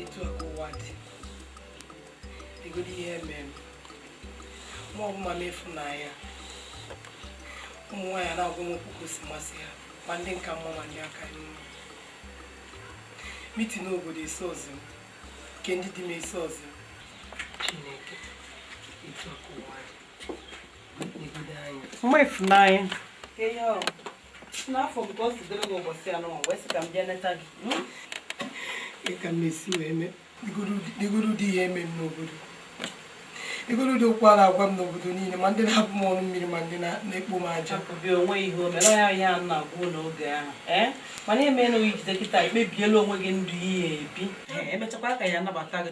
etu a ka ụwa dị legodu ihe e mere mụ bụ mama ifunanya ụmụ nwaanyị na-agwa m okwu otu o si masị ha ma ndị m ka mma ma ndị ka m mma mitin obodo esozi m nke ndị di m esozi m chineke etu a ka ụwa dị legodu anya mama ifunanya na afụ m ka o si dịrị gị ụbọchị anọ m wee sị ka m bịa neta gị hmm? kee ka m na-esi wee mee legodu ụdị ihe eme m n'obodo legodu ụdị okwu a na-agwa m n'obodo niile ma ndị na-abụ m ọnụ mmiri ma ndị na- na-ekpo m aja akụbi onwe ihe o mere ya ihe a na-agwa gị n'oge ahụ ee mana emeela oyi jide kịta ekpebiela onwe gị ndụ ihe ebi Ee, emechakwa ha ga-anabata gị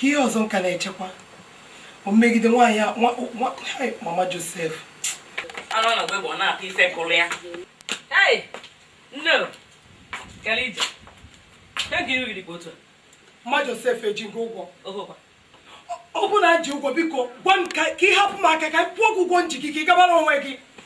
kee ihe ọzọ m ka na-echekwa o megide nwaanyị a nwa- nwa- hai, mama josef anụ a na-agba egbe ọ na-akpa ife kụrụ ya ei nnọọ, kee ije kee ka iru gị dị bụ otu a mama josef eji m gị ụgwọ ohokwa ọ bụ na m ji gị ụgwọ biko gwa m ka ka ị hapụ m aka ka m kwụọ gị ụgwọ m ji gị ka ị gabara onwe gị